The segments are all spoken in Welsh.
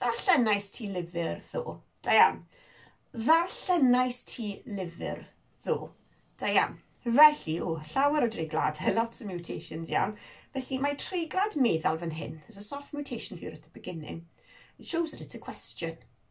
Ddarllenais ti lyfr ddo? Da iawn. Ddarllenais ti lyfr ddo? Da iawn. Felly, o, llawer o dreiglad, lots of mutations iawn. Felly, mae treiglad meddal fan hyn. There's a soft mutation here at the beginning. It shows that it's a question.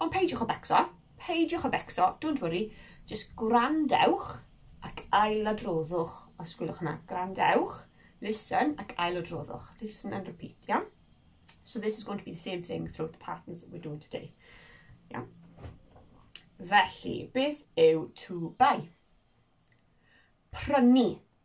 Ond peidiwch o becso, peidiwch o becso, don't worry, just gwrandewch ac ailadroddwch, os gwylwch hwnna, gwrandewch, listen ac ailadroddwch, listen and repeat, iawn? Yeah? So this is going to be the same thing throughout the patterns that we're doing today. Yeah. Felly, beth yw to buy? Prynu.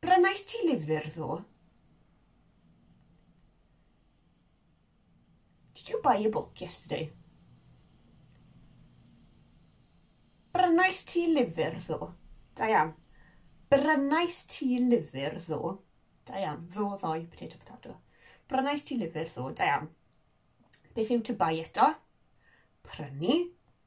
Brynais ti lyfr ddo? Did you buy a book yesterday? Brynais ti lyfr ddo? Da iawn. Brynais ti lyfr ddo? Da iawn. Ddo ddoi, potato, potato. Brynais ti lyfr ddo? Da iawn. Beth yw to buy eto? Prynu.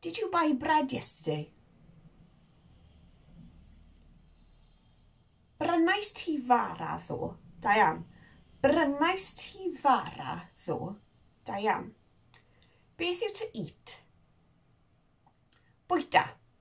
Did you buy bread yesterday? Brynais ti fara ddo? Diane. Brynais ti fara ddo? Diane. Beth yw to eat? Bwyta.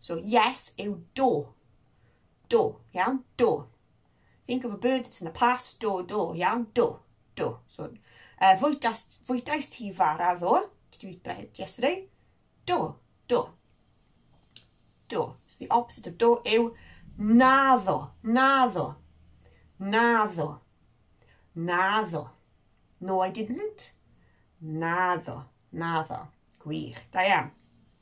So yes yw do. Do, iawn? Do. Think of a bird that's in the past. Do, do, iawn? Do, do. So, uh, fwytas, fwytais ti fara ddo. Did you eat bread yesterday? Do, do. Do. So the opposite of do yw naddo, naddo, naddo, naddo. No, I didn't. Naddo, naddo. Gwych, da iawn.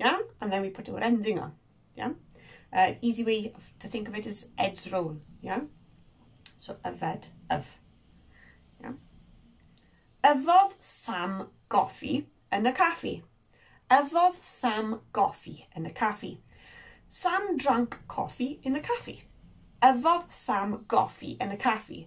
Iawn? And then we put our ending on. Iawn? Uh, easy way to think of it is edge roll. Iawn? So, yfed, yf. Iawn? Yfodd Sam goffi yn y caffi. Yfodd Sam goffi yn y caffi. Sam drank coffee in the caffi. Yfodd Sam goffi yn y caffi.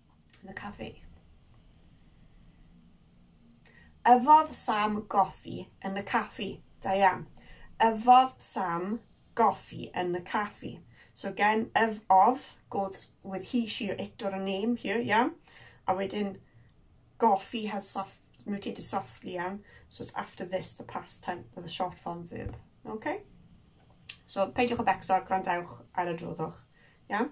The Cafe. Yfodd Sam goffi yn y caffi. Da iawn. Yfodd Sam goffi yn y caffi. So again, yf of goes with he, she or it or a name here, iawn. A wedyn, goffi has soft, mutated softly, iawn. So it's after this, the past tense, the short form verb. Okay? So, peidiwch o becso, gwrandewch ar y droddwch. Iawn?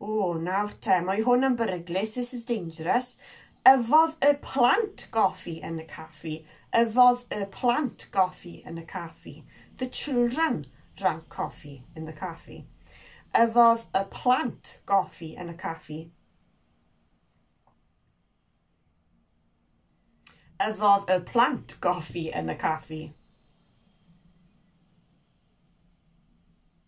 O, nawr te, mae hwn yn beryglus, this is dangerous. Yfodd y plant goffi yn y caffi. Yfodd y plant goffi yn y caffi. The children drank coffee in the caffi. Yfodd y plant goffi yn y caffi. Yfodd y plant goffi yn y caffi.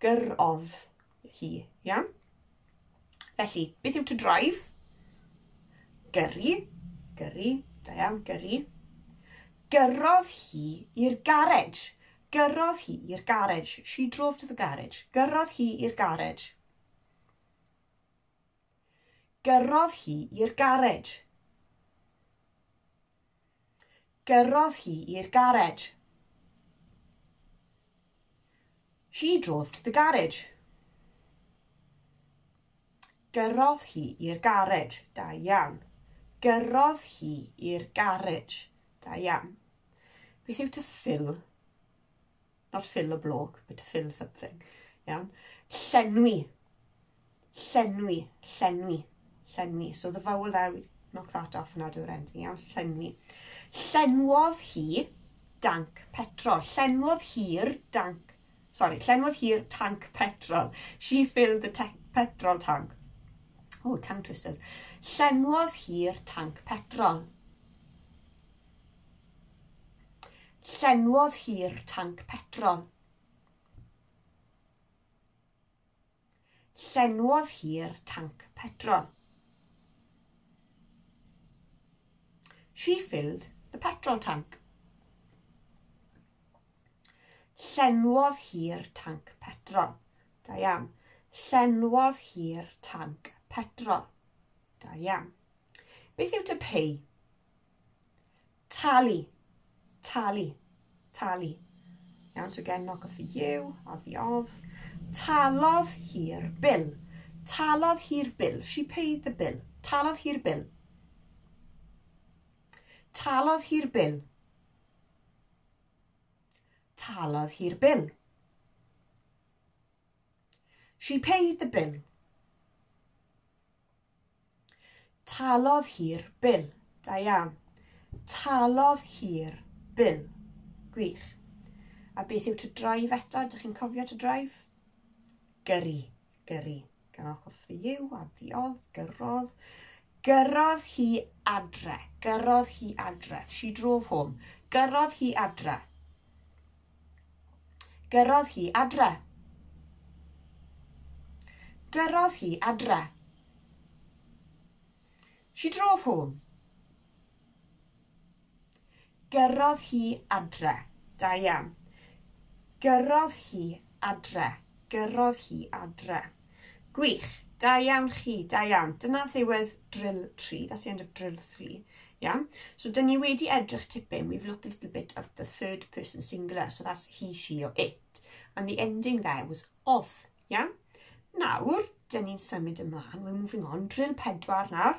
Gyrrodd hi, iawn? Felly, beth yw to drive? Gyrru, gyrru, da iawn, gyrru. Gyrrodd hi i'r garej. Gyrrodd hi i'r garej. She drove to the garage. Gyrrodd hi i'r garej. Gyrrodd hi i'r garej. Gyrrodd hi i'r garej. She drove to the garage. Gyrrodd hi i'r garej. Da iawn. Gyrrodd hi i'r garej. Da iawn. Beth yw to fill? Not fill a block, but to fill something. Iawn? Llenwi. Llenwi. Llenwi. Llenwi. So the vowel there, we knock that off and add our ending. Iawn? Llenwi. Llenwodd hi danc petrol. Llenwodd hi'r danc... Sorry, llenwodd hi'r tanc petrol. She filled the petrol tank. Oh, tongue twisters. Llenwodd hi'r tanc petrol. Llenwodd hi'r tanc petrol. Llenwodd hi'r tanc petrol. She filled the petrol tank. Llenwodd hi'r tanc petrol. Da iawn. Llenwodd hi'r tanc petrol. Da iawn. Beth yw to pay? Talu. Talu. Talu. Iawn, so again, knock off the you, odd the of. Talodd hi'r bil. Talodd hi'r bil. She paid the bill. Talodd hi'r bil. Talodd hi'r bil. Talodd hi'r bil. She paid the bill. Talodd hi'r bil. Da iawn. Talodd hi'r bil. Gwych. A beth yw to drive eto? Dych chi'n cofio to drive? Gyrru. Gyrru. Gan off of the you, addiodd, gyrrodd. Gyrrodd hi adre. Gyrrodd hi adre. She drove home. Gyrrodd hi adre. Gyrrodd hi adre. Gyrrodd hi adre. She drove home. Gyrrodd hi adre. Da iawn. Gyrrodd hi adre. Gyrrodd hi adre. Gwych. Da iawn chi, da iawn. Dyna ddiwedd drill 3, that's the end of drill 3. Iawn. So dyn ni wedi edrych tipyn, we've looked a little bit at the third person singular, so that's he, she or it. And the ending there was of. Iawn. Nawr, dyn ni'n symud ymlaen, we're moving on. Drill 4 nawr.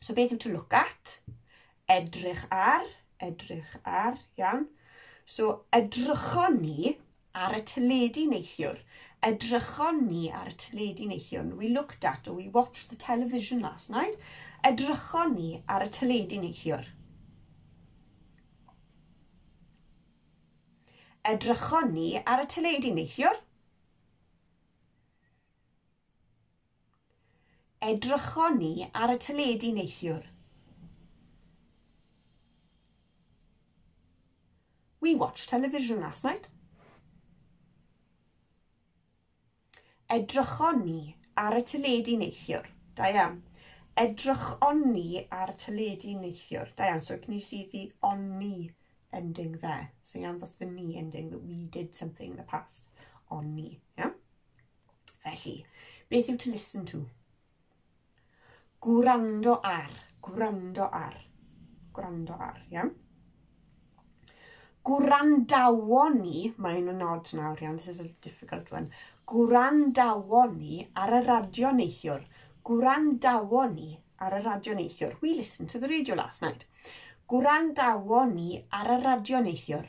So beth yw to look at? Edrych ar, edrych ar, iawn. So edrychon ni ar y teledu neithiwr. Edrychon ni ar y teledu neithiwr. We looked at or we watched the television last night. Edrychon ni ar y teledu neithiwr. Edrychon ni ar y teledu neithiwr. Edrychon ni ar y teledu neithiwr. We watched television last night. Edrychon ni ar y teledu neithiwr. Da iawn. Edrychon ni ar y teledu neithiwr. Da iawn. So can you see the on ni ending there? So iawn ddos the ni ending that we did something in the past. On ni. Iawn? Felly, beth yw to listen to? Gwrando ar, gwrando ar, gwrando ar, iawn? Gwrandawon ni, mae'n yn nod nawr iawn, this is a difficult one. Gwrandawon ni ar y radio neithiwr. Gwrandawon ni ar y radio neithiwr. We listened to the radio last night. Gwrandawon ni ar y radio neithiwr.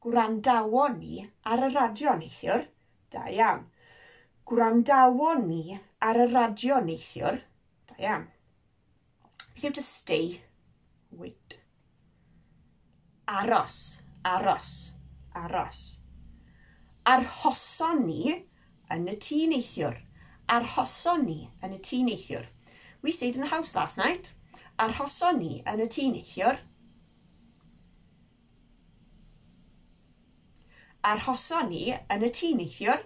Gwrandawon ni ar y radio neithiwr. Da iawn. Gwrandawon ni ar y radio neithiwr. Da iawn. Beth yw to stay? Wait. Aros, aros, aros. Arhoson ni yn y tŷ neithiwr. Arhoson ni yn y tŷ neithiwr. We stayed in the house last night. Arhoson ni yn y tŷ neithiwr. Arhoson ni yn y tŷ neithiwr.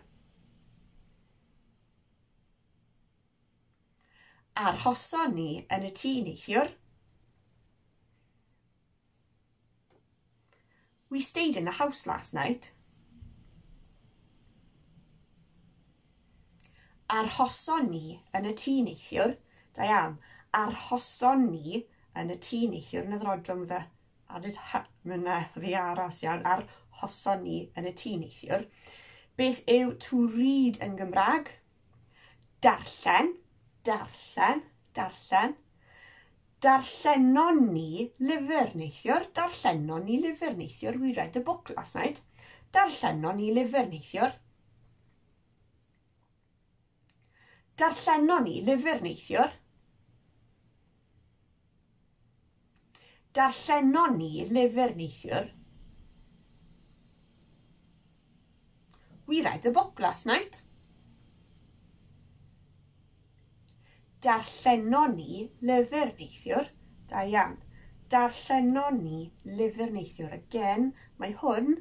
Arhoson ni yn y tŷ neithiwr. We stayed in the house last night. Arhoson ni yn y tŷ neithiwr. Da iawn. Arhoson ni yn y tŷ neithiwr. Yn y ddrodwm fy Added ha, mae yna ddiaras iawn ar hoson ni yn y tîm neithiwr. Beth yw to read yn Gymraeg? Darllen, darllen, darllen. Darllenon ni lyfr neithiwr, darllenon ni lyfr neithiwr, we read a book last night. Darllenon ni lyfr neithiwr. Darllenon ni lyfr neithiwr. Darllenon ni lyfr neithiwr. We read a book last night. Darllenon ni lyfr neithiwr. Da iawn. Darllenon ni lyfr neithiwr. Again, mae hwn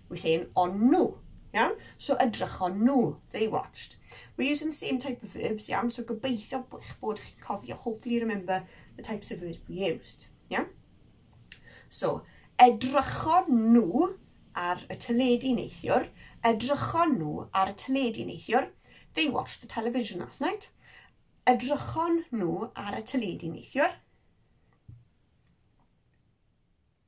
We say yn on nhw. Iawn? So edrychon nhw, they watched. We're using the same type of verbs, iawn? So gobeithio eich bod chi'n cofio, hopefully remember the types of verbs we used. Iawn? So, edrychon nhw ar y teledu neithiwr. Edrychon nhw ar y teledu neithiwr. They watched the television last night. Edrychon nhw ar y teledu neithiwr.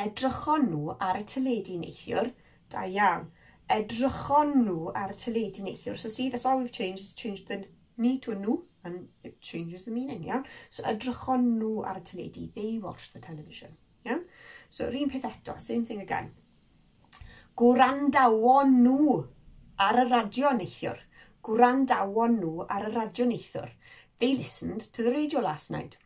Edrychon nhw ar y teledu neithiwr. Da iawn. Edrychon nhw ar y teledu neithiwr. So see, that's all we've changed, is changed the ni to a nhw, and it changes the meaning, iawn? So edrychon nhw ar y teledu. They watched the television, iawn? So yr un peth eto, same thing again. Gwrandawon nhw ar y radio neithiwr. Gwrandawon nhw ar y radio neithiwr. They listened to the radio last night.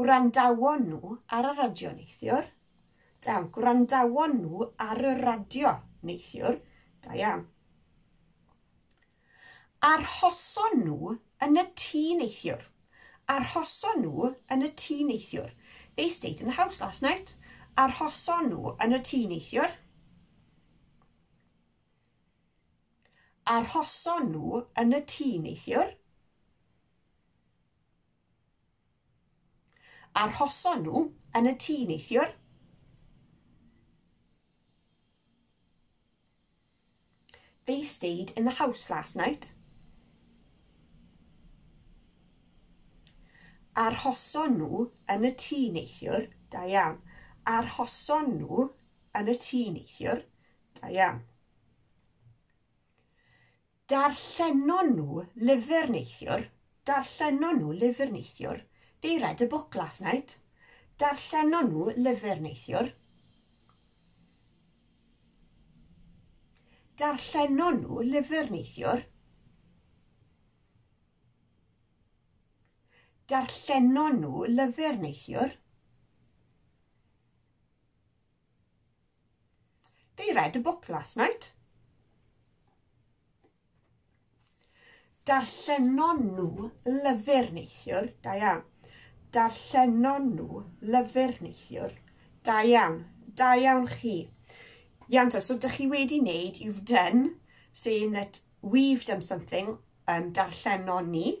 Gwrandawon nhw ar y radio neithiwr. Da iawn. Gwrandawon nhw ar y radio neithiwr. Da iawn. Arhoson nhw yn y tŷ neithiwr. Arhoson nhw yn y tŷ neithiwr. They stayed in the house last night. Arhoson nhw yn y tŷ neithiwr. Arhoson nhw yn y tŷ neithiwr. Arhoson nhw yn y tŷ neithiwr. They stayed in the house last night. Arhoson nhw yn y tŷ neithiwr. Da iawn. Arhoson nhw yn y tŷ neithiwr. Da iawn. Darllenon nhw lyfr neithiwr, darllenon nhw lyfr neithiwr, they read a book last night. Darllenon nhw lyfr neithiwr. Darllenon nhw lyfr neithiwr. Darllenon nhw lyfr neithiwr. They read a book last night. Darllenon nhw lyfr neithiwr. Da iawn. Darllenon nhw lyfr neithiwr. Da iawn. Da iawn chi. Iawn to, so dych chi wedi wneud, you've done, saying that we've done something, um, darllenon ni,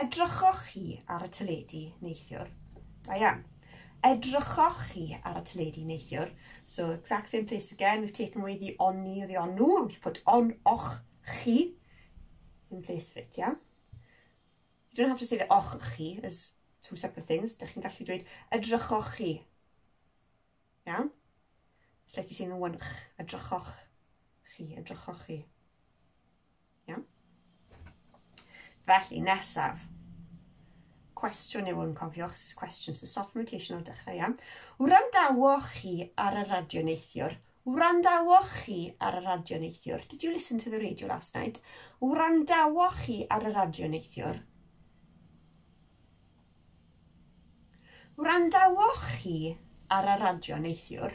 Edrychoch chi ar y teledu neithiwr? Da iawn. Edrychoch chi ar y teledu neithiwr? So, exact same place again, we've taken away the oni or the onu, and we've put on, och, chi, in place of it, iawn? You don't have to say the och, chi, as two separate things. Dych chi'n gallu dweud, edrychoch chi. Iawn? It's like you're saying the one ch, edrychoch chi, edrychoch chi. Iawn? Felly, nesaf. Cwestiwn yw hwn, cofiwch, cwestiwn sy'n soft mutation o dechrau, iawn? Wrandawoch chi ar y radio neithiwr? Wrandawoch chi ar y radio neithiwr? Did you listen to the radio last night? Wrandawoch chi ar y radio neithiwr? Wrandawoch chi ar y radio neithiwr?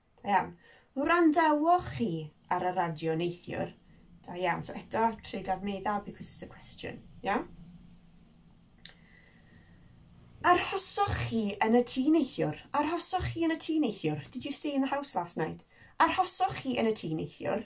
Da iawn. Wrandawch chi ar y radio neithiwr? Da iawn. So eto, tryd ar meddal because it's a question. Iawn? Arhosoch chi yn y tŷ neithiwr? Arhosoch chi yn y tŷ neithiwr? Did you stay in the house last night? Arhosoch chi yn y tŷ neithiwr?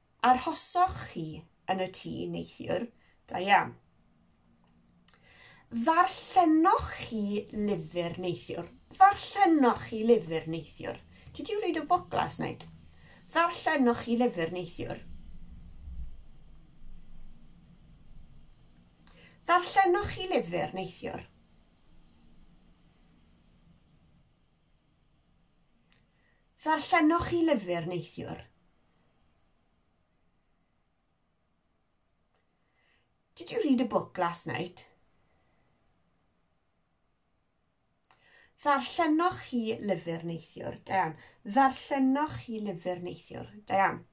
Arhosoch chi yn y tŷ neithiwr, da iawn. Ddarllenoch chi lyfr neithiwr? Ddarllenoch chi lyfr neithiwr? Did you read a book last night? Ddarllenoch chi lyfr neithiwr? Ddarllenoch chi lyfr neithiwr? Ddarllenoch chi lyfr neithiwr? Did you read a book last night? Ddarllenoch chi lyfr neithiwr? Da iawn. Ddarllenoch chi lyfr neithiwr? Da iawn.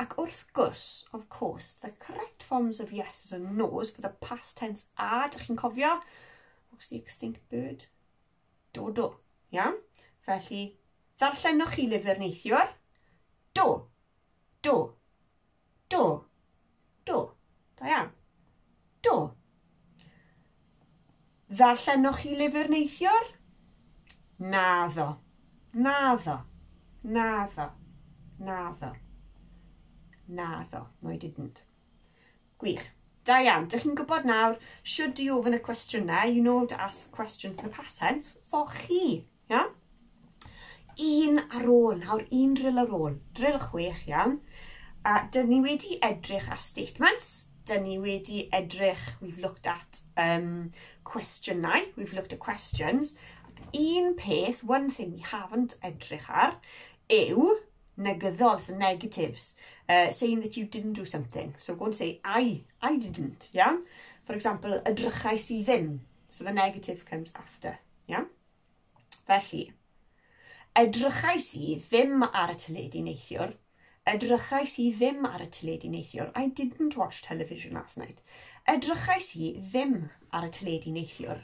Ac wrth gwrs, of course, the correct forms of yes is a nose for the past tense a, dych chi'n cofio? What's the extinct bird? Do, do. Iawn? Felly, ddarllenoch chi lyfr neithiwr? Do. Do. Do. Do. Da iawn. Do. Ddarllenoch chi lyfr neithiwr? Naddo. Naddo. Naddo. Naddo. Naddo. No, I didn't. Gwych. Da iawn. Dych chi'n gwybod nawr should i ofyn y cwestiynau, you know to ask the questions in the past tense, for chi. Iawn? Un ar ôl, nawr un drill ar ôl. Drill chwech, iawn. A dyn ni wedi edrych ar statements, dyn ni wedi edrych, we've looked at um, cwestiynau, we've looked at questions. Un peth, one thing we haven't edrych ar, yw negyddol, so negatives, uh, saying that you didn't do something. So go and say, I, I didn't, yeah? For example, edrychais i ddim. So the negative comes after, yeah? Felly, edrychais i ddim ar y teledu neithiwr. Edrychais i ddim ar y teledu neithiwr. I didn't watch television last night. Edrychais i ddim ar y teledu neithiwr.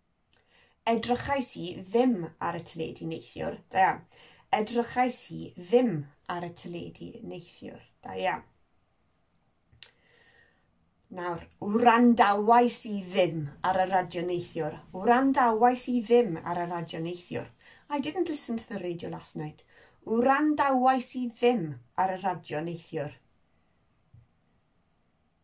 Edrychais i ddim ar y teledu neithiwr. Da iawn. Edrychais i ddim ar y teledu neithiwr. Da iawn. Nawr, wrandawais i ddim ar y radio neithiwr. Wrandawais i ddim ar y radio neithiwr. I didn't listen to the radio last night. Wrandawais i ddim ar y radio neithiwr.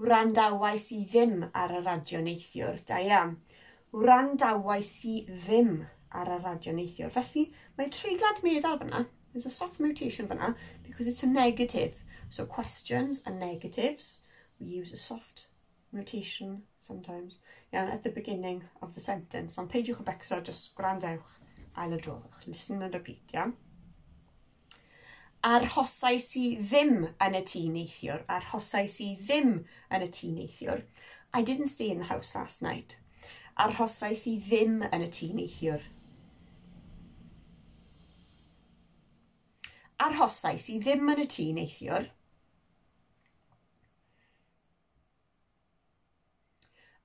Wrandawais i ddim ar y radio neithiwr, da iawn. Wrandawais i ddim ar y radio neithiwr. Felly, mae treiglad meddal fyna. There's a soft mutation fyna, because it's a negative. So questions and negatives, we use a soft mutation sometimes. Iawn, at the beginning of the sentence. Ond peidiwch o becso, just gwrandewch, ail adroddwch. Listen and repeat, iawn? Arhosais i ddim yn y tŷ neithiwr. Arhosais i ddim yn y tŷ neithiwr. I didn't stay in the house last night. Arhosais i ddim yn y tŷ neithiwr. Arhosais i ddim yn y tŷ neithiwr.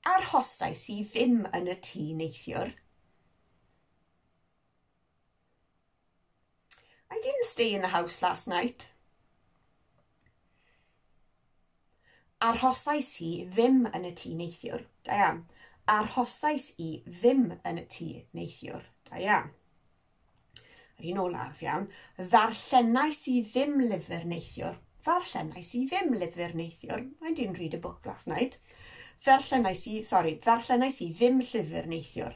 Arhosais i ddim yn y tŷ neithiwr. I didn't stay in the house last night. Arhosais i ddim yn y tŷ neithiwr. Da iawn. Arhosais i ddim yn y tŷ neithiwr. Da iawn. Yr un olaf, iawn. Ddarllenais i ddim lyfr neithiwr. Ddarllenais i ddim lyfr neithiwr. I didn't read a book last night. Ddarllenais i, sorry, ddarllenais i ddim llyfr neithiwr.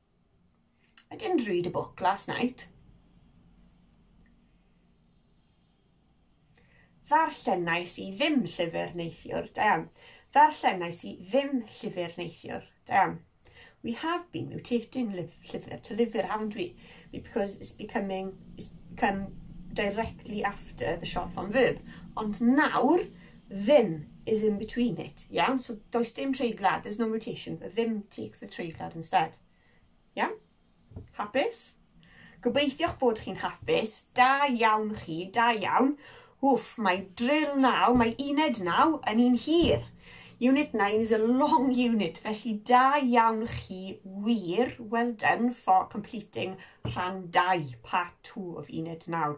I didn't read a book last night. Ddarllennais i ddim llyfr neithiwr, da iawn. Ddarllennais i ddim llyfr neithiwr, da iawn. We have been mutating llyfr to lyfr, haven't we? Because it's becoming, it's become directly after the short form verb. Ond nawr, Ddim is in between it, iawn? So does dim treiglad, there's no mutation. The ddim takes the treiglad instead. Iawn? Hapus? Gobeithio'ch bod chi'n hapus. Da iawn chi, da iawn. Wff, mae drill naw, mae uned naw yn un hir. Unit 9 is a long unit, felly da iawn chi wir. Well done for completing rhan 2, part 2 of unit 9.